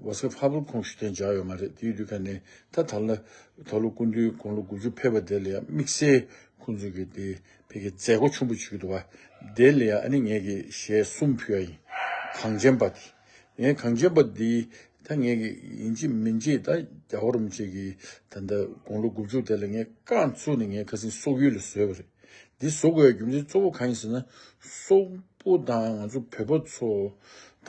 ཝོ་སི་ཧྥ་པོ་ཁུང་ཞུ་ཐན་སྦྱར་ཡོད་མ་རེད་དེའི་དུས་ཁ་ནས་ད་ད་ལ་ད་ལོ་སྐུ་འདུས་དགུང་ལོ་དགུ་ཅུ་ཕེབས་པ་དེ་ལ་ཡང་དམིགས་བསལ་ཁོང་ཚོས་ཀྱི་དེ་ཕེ་ཀྱི་མཛད་སྒོ་ཆུང་པོ་ཞིག་འདུག་བ་དེ་ལ་ཡང་ཨ་ནི་ངེད་ཀྱི་ཞལ་གསུམ་ཕུལ་བ་ཡིན་གངས་ཅན་པ་དེ་ངའི་གངས་ཅན་པ་དེ་ད་ངེད་ཀྱི་ཡིན་གཅིག་མིན་གཅིག་ད་རྒྱ་བོ་རུམ་བཅས་ཀྱི་ད་ད་དགུང་ལོ་དགུ་བཅུ་དེ་ལ་ངས་བཀའ་བཙུགས་ནས་ངའི་ཁ་སེང་སོག་ཡུལ་ལ་བཟོས་བ་རེད་འདི་བཟོ་དགོས་ཡའི་རྒྱུ་མཚན་གཙོ་བོ་གང་ཡིན་ཟེར་ན་སོག་པོ་དང་ང་ཚོ་བོད་པ་ཚོ་ད་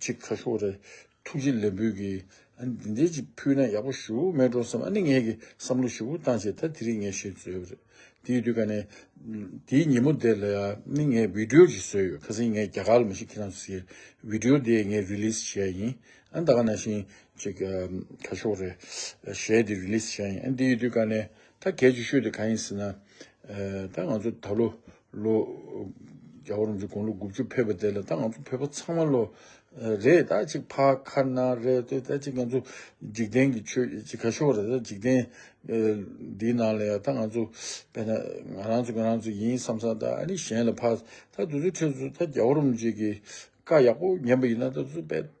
ཅིག་ཁ་ཤོ་རེད། ཐུགས་རྗེ་ལེགས་འབུལ་གྱིས། འདི་འདྲའི་ཅིག་ཕུལ་ན་ཡག་པོ་ཞུ་མེད་འགྲོ་བསམ་ཨ་ནི་ངེད་ཀྱིས་བསམ་བློ་ཞིབ་པོ་བཏང་བྱས་ད་དེ་རིང་ངས་བཤད་རྩོད་རེད། དེའི་དུས་ཀ་ནས། དེའི་ཉིན་མོ་དེ་ལ་ཡ་ནི་ངས་བིདེའོ་ཅིག་བཟོས་ཡོད་ཁ་སང་ངས་རྒྱ་གར་ལ་མི་ཞིག་ཁྱེད་རང་ཚོ་སེ་བིདེའོ་དེ་ངས་རིལིས་བྱས་ཡིན་ཨ་ད་ག་ན་བཞིན་ཅིག་ཁ་ཤོ་རེད། གཞས་དེ་རིལིས་བྱས་ཡིན་ཨ་དེའི་དུས་ཀ་ནས་ད་གལ་ཆེ་ཤོས་དེ་ག་ཡིན་ཟེར་ན། ད་ང་ཚོ་ད་ལོ་ལོ། རྒྱལ་བོ་རིན་ཆེན་དགུང་ལོ་དགུ་བཅུ་ཕེབས་པ་དེ་ལ་ད་ང་ཚོ་བོད་པ་ཚང་མ་ལོ། རེས་ད་ཅིག་ཕ་ཁ་ན་རེ་ཏེ་ད་ཅིག་ང་ཚོ་འཇིག་རྟེན་གྱི་ཆོས་ཅི་ག་ཤོར་བ་རེད་ད་འཇིག་རྟེན་འདིའི་ནང་ལ་ཡང་ད་ང་ཚོ་བས་ན་ང་རང་ཚོ་ང་རང་ཚོ་ཡིན་བསམ་བསམ་ད་ཨ་ནི་གཞན་ལ་ཕ་ད་དུ་ཚོའི་ཁྲོད་དུ་ད་རྒྱལ་བོ་རིན་ཆེན་གྱི་བཀའ་ཡག་པོ་ཉན་པ་ཡིན་ན་ད་ཚོ་བས།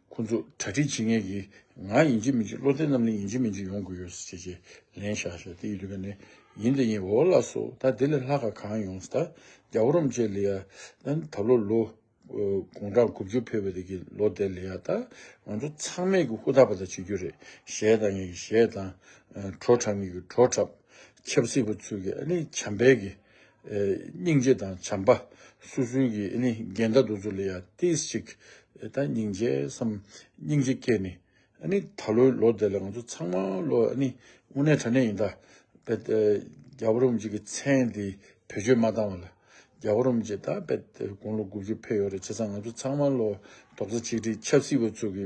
ཁོ་ཚོ་གྲ་སྒྲིག་བྱེད་མཁན་གྱིས་ང་ཡིན་གཅིག་མིན་གཅིག་བློ་ལྡན་རྣམས་ནི་ཡིན་གཅིག་མིན་གཅིག་ཡོང་དགོས་ཡོད་ཟེར་ཅེས་ལན་ཤག་ཤག་དེ་ཡི་དུས་ཀ་ནས་ཡིན་དེ་ཡིན་འོ་ལ་སོ་ད་དེ་ལས་ལྷག་ག་གང་ཡོང་ཟེར་ད་རྒྱ་བོ་རོམ་བཅས་ལི་ཡ་ད་ལོ་ལོ་དགུང་གྲངས་དགུ་བཅུ་འཕེལ་བའི་དུས་ཀྱི་ལོ་དེ་ལི་ཡ་ད་ང་ཚོ་ཚང་མས་གི་ཧུ་ད་པ་ད་བྱེད་རྒྱུ་རེད་ཞེས་ད་ངེད་ཀྱི་ཞེས་ད་བྲོ་འཁྲབ་ངེད་ཀྱི་བྲོ་འཁྲབ་ཆབ་སྲིད་པ་ཚུལ་གྱི་ཨ་ནི་བྱམས་པས་གི་སྙིང་རྗེ་དང་བྱམས་པ་སུ་སུན་གྱི་ནི་འགལ་ཟླ་འདུ་འཛོ་ལ་ཡང་ཏིས་ཅིག་ད་སྙིང་རྗེ་སམ་སྙིང་རྗེ་སྐྱེས་ནི་ནི་ད་ལོའི་ལོ་དེ་ལ་ང་ཚོ་ཚང་མ་ལོ་ནི་དབུ་ནས་དྲ་ནས་ཡིན་ད་པེ་ད་རྒྱ་བོ་རོམ་གྱི་གི་མཚན་དེ་བེད་སྤྱོད་མ་བཏང་བ་ལ་རྒྱ་བོ་རོམ་གྱི་ད་པེ་ད་དགུང་ལོ་དགུ་བཅུ་འཕེལ་ཡོ་རེ་བྱེད་ཚང་ང་ཚོ་ཚང་མ་ལོ་དོག་ས་ཆིག་ཁྲི་ཆབ་སྲིད་པ་ཚོ་གི།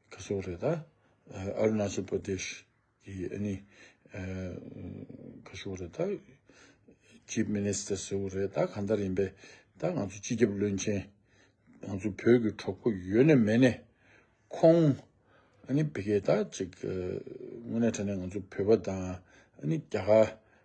ཁ་སོགས་རེད་ད། Arunachal Pradesh། གི་ཨ་ནི། ཁ་སོགས་རེད་ད། Chief Minister སོགས་རེད་ད་གང་ལྟར་ཡིན་པས། ད་ང་ཚོ་སྤྱི་ཁྱབ་བློན་ཆེན། ང་ཚོ་བོད་ཀྱི་གྲོགས་པོ་ཡོད་ནས་མེད་ནས། ཁོང། ཨ་ནི་བི་གེ་ད་ཅིག། དངོས་གནས་དྲན་ནས་ང་ཚོ་བོད་པ་དང། ཨ་ནི་རྒྱ་གར།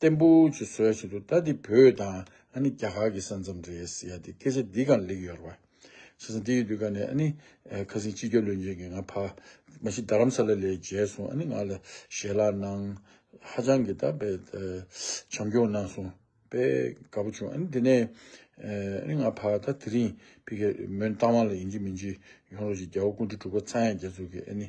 བརྟན་པོ་ཆུ་བཟོས་བྱེད་དུ་ད་འདི་བོད་དང་ཨ་ནི་རྒྱ་གར་གྱི་ས་མཚམས་རེད་ཡ་འདི་སྐད་ཆ་འདི་གང་ལེགས་ཡོད་ར་བ། བྱས་ཙང་འདི་ཡོད་དུས་ཀ་ནས་ཨ་ནི་ཁ་སིང་སྤྱི་སྐྱོབ་བློན་ཆེན་གྱི་ང་ཕ། མ་གཞི་རྡ་རམ་ས་ལ་ལས་མཇལ་སོང་ཨ་ནི་ང་ལ་ཞལ་ལག་གནང། ཧ་ཅང་གི་ད་བེ། བྱམས་སྐྱོང་གནང་སོང་བེ། དགའ་པོ་བྱུང་ཨ་ནི་འདི་ནས། ཨ་ནི་ང་ཕ་ད་དེ་རིང། ཕི་གེ་མོན་རྟ་དབང་ལ་ཡིན་གྱི་མིན་གྱི། ཡོང་རོགས་གྱིས་རྒྱལ་བ་ཀུན་གྲོལ་འབྲུག་པ་ཚངས་དབྱངས་རྒྱལ་ཚུགས་ཀྱི་ཨ་ནི་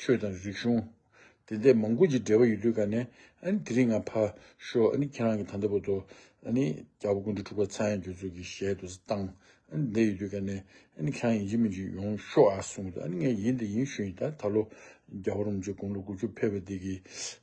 ཆོས་དང་རིག་གཞུང། དེ་འདས་མང་པོ་ཅིག་འབྲེལ་བ་ཡོད་དུས་ག་ནས། དེ་རིང་ང་ཕ། ཤོ། ཁྱེད་རང་གི་ད་ལྟ་བུ་ཚོ། རྒྱ་བོད་ཀུན་འདུས་འཁྲུག་པ་ཚ་ཡང་སྒྱུ་རྩུབ་ཀྱི་ཞལ་དུ་བཏང། འདས་ཡོད་དུས་ག་ནས། ཁྱེད་རང་ཡིན་གཅིག་མིན་གཅིག་ཡོང་ཤོག་ཨ་གསུངས། ངས་ཡིན་འདི་ཡིན་ཞུས། ད་ལོ། རྒྱ་བོར་མི་ཆོས་དགུང་ལོ་དགུ་བཅུ་ཕེབས་པ་འདི་གི།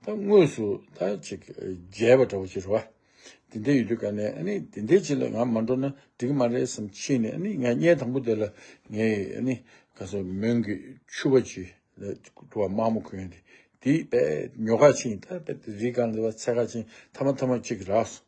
ད་དངོས་སུ་ད་ཅིག་རྒྱལ་བ་འདྲ་བོ་ཅིག་རེད་བ། དེ་འདྲས་ཡོད་དུས་ག་ནས་ཨ་ནི་དེ་འདྲས་ཅིག་ལ་ང་མ་འགྲོ་ན་འགྲིག་མ་རེད་བསམ་ཕྱིན་ནས་ཨ་ནི་ང་བརྙན་དང་པོ་དེ་ལ་ངས་ཨ་ནི་ག་ས་མོན་གི་ཆུ་བ་ཅིག་ལ་འགྲོ་བ་མག་མོ་གོན་ཏེ་དེའི་དཔེ་ཉོ་ཁ་ཕྱིན་ད་དཔེ་དེ་རིགས་གང་ལས་བ་ཚད་ཁ་ཕྱིན་ཐ་མ་ཐ་མ་ཅིག་རགས་སོ།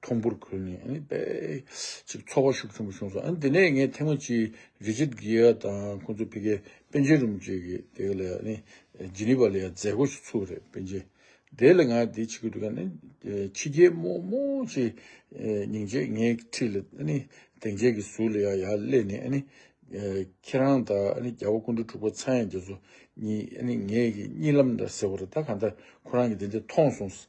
མཐོང་པོར་གོ་ནས་ཨ་ནི་པའི། ཅིག་ཚོགས་བར་ཤུགས་ཆེན་པོ་བྱུང་སོང་ཨ་ནི་དེ་ནས་ངས་ཐེངས་མ་གཅིག་རི་ཆིད་གི་ཡ་དང་ཁོང་ཚོ་ཕི་གའི་པན་ཆེན་རུམ་བཅས་ཀྱི་དེ་ག་ལ་ཡ་ཨ་ནི་ཇི་ནི་པ་ལ་ཡ་མཛད་སྒོ་ཞིག་ཚུགས་རེད་པན་ཆེན་དེ་ལ་ང་དེ་ཆི་གི་འདུག་ཨ་ནི་ཕྱི་རྒྱལ་རྨོ་རྨོ་ཅིག་ཉིང་རྗེས་ངའི་འཁྲིས་ལ་ཨ་ནི་དེང་རྗེས་ཀྱི་ཟུར་ལ་ཡ་ཡ་སླེ་ནས་ཨ་ནི། ཁྱེད་རང་དང་ཨ་ནི་རྒྱ་བོ་སྐུ་འདྲ་ཕྲུག་པ་ཚང་ཡ་རྒྱ་མཚོ་གཉིས་ཨ་ནི་ངའི་གཉིད་ལམ་འདྲ་ཟེར་བ་རེད་ད་ག་འདྲ་ཁོ་རང་གི་དེ་འདྲ་མཐོང་སོང།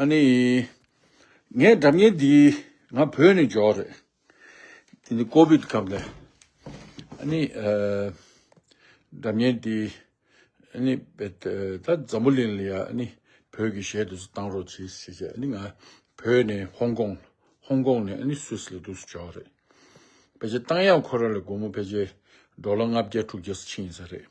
ཨ་ནི། ངས་སྒྲ་བརྙན་འདི་ང་བོད་ནས་འཇོག་རེད། དེ་ནི་ཀོ་བིད་སྐབས་ལས། ཨ་ནི། སྒྲ་བརྙན་འདི་ཨ་ནི། ད་འཛམ་བུ་གླིང་ལ་ཡང་ཨ་ནི་བོད་ཀྱི་གཞས་དེ་ཚོ་བཏང་རོགས་བྱེད་ཞེས་བྱས་ཨ་ནི་ང་བོད་ནས་ཧོང་ཀོང། ཧོང་ཀོང་ནས་ཨ་ནི་སུད་སི་ལ་འདུག་སུ་འཇོག་རེད། ཕལ་ཆེར་བཏང་ཡང་ཁོ་རང་ལས་སྒོར་མོ་ཕལ་ཆེར་འགྲོ་ལ་ལྔ་བརྒྱ་དྲུག་བརྒྱ་སུ་ཕྱིན་ཡིན་ས་རེད།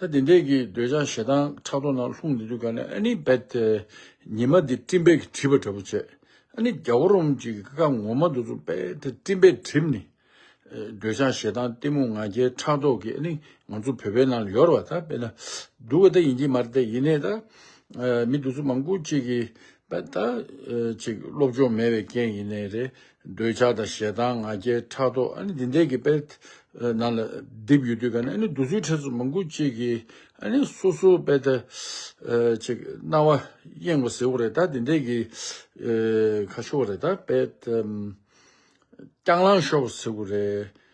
ད་དེ་འདྲས་ཀྱི་འདོད་ཆགས་ཞེ་སྡང་ཕྲག་དོག་ནང་ལྷུང་ནས་འདུག་ག་ནས་ཨ་ནི་བད་དེ་ཉི་མ་དེ་སྤྲིན་བད་ཀྱི་བྲིས་པ་འདྲ་པོ་བྱས་ཨ་ནི་རྒྱ་བོ་རོམ་གྱི་ཀ་ཁ་ངོ་མ་འདུག་ཚོ་བད་དེ་སྤྲིན་བད་བྲིས་ནི། འདོད་ཆགས་ཞེ་སྡང་གཏི་མུག་ང་རྒྱལ་ཕྲག་དོག་གི་ཨ་ནི་ང་ཚོ་བོད་པའི་ནང་ལ་ཡོར་བ་ད་བད་ན་འདུག་ག་ད་ཡིན་གྱི་མ་རེད་ད་ཡིན་ནས་ད་མི་འདུག་ཚོ་མང་པོ་ཅིག་གི་ད་ཅིག་སློབ་སྦྱོང་མེད་པའི་རྐྱེན་ཡིན་ནའི་རེད། འདོད་ཆགས་དང་ཞེ་སྡང་ང་རྒྱལ་ཕྲག་དོག་ཨ་ནི་འདི་འདྲའི་གི་དཔེར་ནང་ལ་བསྡིབས་ཡོད་དུས་ཀ་ནས་ཨ་ནི་འདུག་ཚུལ་ཕྲན་ཚུགས་མང་པོ་ཅིག་གིས་ཨ་ནི་སོ་སོའི་དཔེ་ད་ཅིག་སྣང་བ་གཡེང་བ་ཟེར་བ་རེད་ད་འདི་འདྲའི་གི་ཁ་ཤོ་བ་རེད་ད་དཔེ་ལྟ་སྐྱང་ལངས་ཤོག་ཟེར་བ་རེད།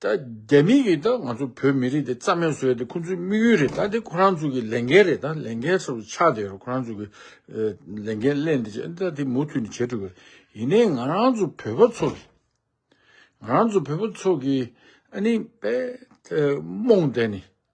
ད་རྒྱ་མི་ཡིས་ད་ང་ཚོ་བོད་མི་རིགས་དེ་རྩ་མེད་བཟོ་ཡ་དེ་ཁོང་ཚོའི་དམིགས་ཡུལ་རེད་ད་དེ་ཁོ་རང་ཚོ་གི་ལས་འགན་རེད་ད་ལས་འགན་སོ་ཆགས་དེ་ཁོ་རང་ཚོ་གི་ལས་འགན་སླད་འདི་བྱས་ད་དེ་མུ་མཐུད་ནས་བྱེད་འགྲོ་གི་ཡིན་ནའི་ང་རང་ཚོ་བོད་པ་ཚོ་གི་ང་རང་ཚོ་བོད་པ་ཚོ་གི་ཨ་ནི་པའི་རྨོངས་དད་ནི།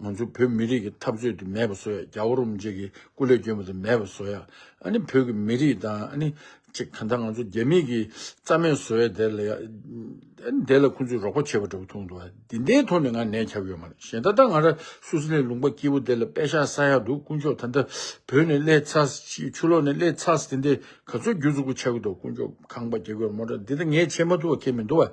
ང་ཚོ་བོད་མི་རིགས་ཀྱི་འཐབ་རྩོད་དེ་མེད་པ་བཟོ་ཡ་རྒྱ་བོད་རུམ་བཅས་ཀྱི་སྐུ་ལས་སྐྱོན་པ་དེ་མེད་པ་བཟོ་ཡ་ཨ་ནི་བོད་ཀྱི་མི་རིགས་དང་ཨ་ནི་ཅེ་གང་ལྟར་ང་ཚོ་རྒྱ་མིག་གི་རྩ་མེད་བཟོ་ཡ་དེ་ལ་ཡ་ཨ་ནི་དེ་ལ་ཁོང་ཚོས་རོགས་པ་བྱེད་པ་འདྲ་བོ་མཐོང་འདུག་དེ་འདའི་ཐོག་ནས་ང་ནད་ཁྱབ་ཡོད་མ་རེད་གཞན་ད་ལྟ་ང་ར་སུ་སི་ལའི་ལུང་པ་སྐྱིད་པོ་དེ་ལ་དཔེ་ཤག་ས་ཡག་འདུག་དཀོན་མཆོག་ད་འདའ་བོད་ནས་སླེ་ཚ་ཆུ་ལོག་ནས་སླེ་ཚ་དེ་འདའི་ག་ཚོད་རྒྱུ་ཚུགས་པོ་ཆགས་གི་འདུག་དཀོན་མཆོག་ཁང་པ་རྒྱག་གི་ཡོད་མོ་འདྲ་འདི་ད་ངས་བྱེད་མ་ཐུབ་བ་ཁྱེད་མི་འདུག་བ།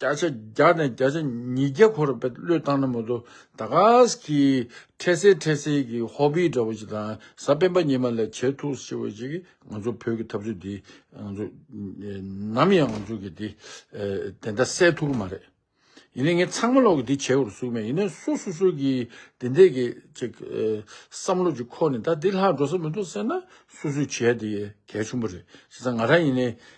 བརྒྱ་ཆ་བརྒྱ་ནས་བརྒྱ་ཆ་ཉིས་བརྒྱ་འཁོར་བའི་བློས་བཏང་ན་མོ་དོ་ད་ག་ཟེ་གི་འཕྲལ་སེལ་འཕྲལ་སེལ་གྱི་ཧོ་པི་འདྲ་བོ་ཞིག་དང་གཟའ་སྤེན་པ་ཉི་མ་ལས་བྱེད་ཐུགས་ཆེ་བོ་ཞིག་ང་ཚོ་བོད་ཀྱི་འཐབ་རྩོད་འདི་ང་ཚོ་ནམ་ཡང་ང་ཚོ་གི་དེ་དེ་འདྲ་སེལ་ཐུག་གི་མ་རེད་ཡིན་ན་ངས་ཚང་མ་ལོག་གི་འདི་བྱེད་དགོས་རུ་གསུག་མེད་ཡིན་ན་སུ་སུ་སུ་གི་དེ་འདྲས་གི་ཅིག་བསམ་བློ་ཅིག་ཁོ་ནས་ད་འདི་ལྷག་འགྲོ་ས་མི་འདུག་ཟེར་ན་སུ་སུ་བྱེད་དེ་གལ་ཆུང་པོ་རེད་བྱས་ཙང་ང་རང་ཡིན་ནས་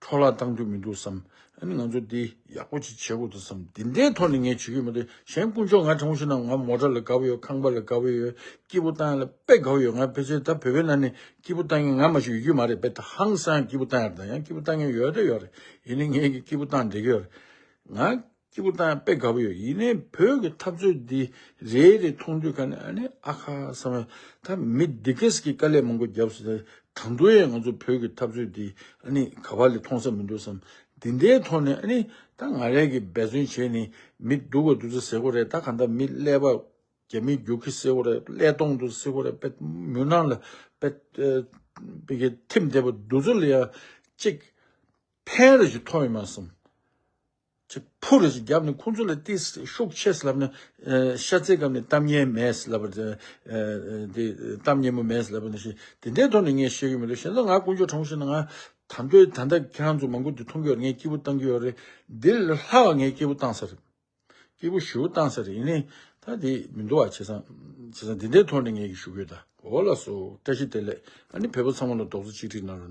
འཕྲོ་བརླག་བཏང་རྒྱུ་མི་འདུག་བསམ། ཨ་ནི་ང་ཚོ་འདི་ཡག་པོ་ཅིག་བྱེད་དགོས་འདུག་བསམ། འདི་འདྲའི་ཐོག་ནས་ངས་བྱེད་ཀྱི་མི་འདུག་གཞན་དཀོན་མཆོག་ང་དྲང་པོ་ཞུ་ན་ང་མོ་དགྲ་ལ་དགའ་བོ་ཡོད་ཁང་པ་ལ་དགའ་བོ་ཡོད་སྐྱིད་པོ་བཏང་ཡ་ལ་དཔེ་དགའ་བོ་ཡོད་ང་ཕལ་ཆེར་ད་བོད་པའི་ནང་ནས་སྐྱིད་པོ་བཏང་མཁན་ང་མ་ཞིག་ཡོད་རྒྱུ་མ་རེད་དཔེ་ད་ཧང་སང་སྐྱིད་པོ་བཏང་ཡ་རེད་དང་ཡང་སྐྱིད་པོ་བཏང་མཁན་ཡོད་རེད་ཡོད་རེད་ཡིན་ནའི་ངས་ཀྱི་སྐྱིད་པོ་བཏང་འདྲེ་གི་ཡོད་རེད་ང། སྐྱིད་པོ་དང་དཔེ་དགའ་པོ་ཡོད་ཡིན་ནའི་བོད་ཀྱི་འཐབ་རྩོད་འདི་རེ་རེ་མཐོང་དུས་ཁ་ནས་ཨ་ནི་ཨ་ཁ་བསམ་ཡོད་ད་མི་འདི་གེ་སི་གི་དཀའ་ལས་མང་པོ་རྒྱབ་སོང་ད་དང་དུ་ཡང་ང་ཚོ་བོད་ཀྱི་འཐབ་རྩོད་འདི་ཨ་ནི་ག་བ་ལས་མཐོང་ས་མི་འདུག་བསམ་འདི་འདའི་ཐོག་ནས་ཨ་ནི་ད་ང་རེ་གི་འབད་བརྩོན་བྱས་ནས་མི་སྡུག་བ་འདུག་ས་སེ་གོ་རེ་ད་གང་ལྟར་མི་ཀླད་པ་རྒྱ་མི་རྒྱུག་གི་སེ་གོ་རེ་ཀླད་སྟོང་འདུག་ས་སེ་གོ་རེ་དཔེ་མུན་ནང་ལ་དཔེ་དཔེ་གི་ཐིམ་བསྡད་པ་འདུག་ཚུར་ལ་ཡང་གཅིག་ཕན་རེ་ཞིག་ཐོག་ཡོད་མ་བསམ། ཅེས་ཕུ་རེ་ཞིག་བརྒྱབ་ནས་ཁོ་ཚོ་ལ་ཏི་སེ་ཤུགས་ཆེ་ཟེར་ལབ་ནས། ཤ་ཚའི་སྐབས་ནས་གཏམ་སྙན་མེད་ཟེར་ལབ་པ། དེ་གཏམ་སྙན་མོ་མེད་ཟེར་ལབ་པ་ནི་ཞེས་དེ་འདྲའི་ཐོག་ནས་ངས་བཤད་ཀྱི་མི་འདུག་གཞན་ལ་ང་དཀོན་མཆོག་གྲངས་ཤིག་ན་ང། ད་འདོད་ད་ལྟ་ཁྱེད་རང་ཚོ་མང་པོ་འདི་མཐོང་གི་ཡོད་རེད་ངས་སྐྱིད་པོ་བཏང་གི་ཡོད་རེད། འདི་ལས་ལྷག་པ་ངས་སྐྱིད་པོ་བཏང་ས་རེད། སྐྱིད་པོ་ཞེ་བོ་བཏང་ས་རེད་ཡིན་ནའི། ད་དེ་མི་འདུག་ཨ་བྱས་ཙང། བྱས་ཙང་འདི་འདྲའི་ཐོག་ནས་ངས་ཞུ་གི་ཡོད་ད། འོ་ལགས་སོ་བཀྲ་ཤིས་བདེ་ལེགས། ཨ་ནི་བལ་པོ་ཚང་མ་ལ་རྡོག་རྩ་གཅིག་སྒྲིལ་གནང་རོགས།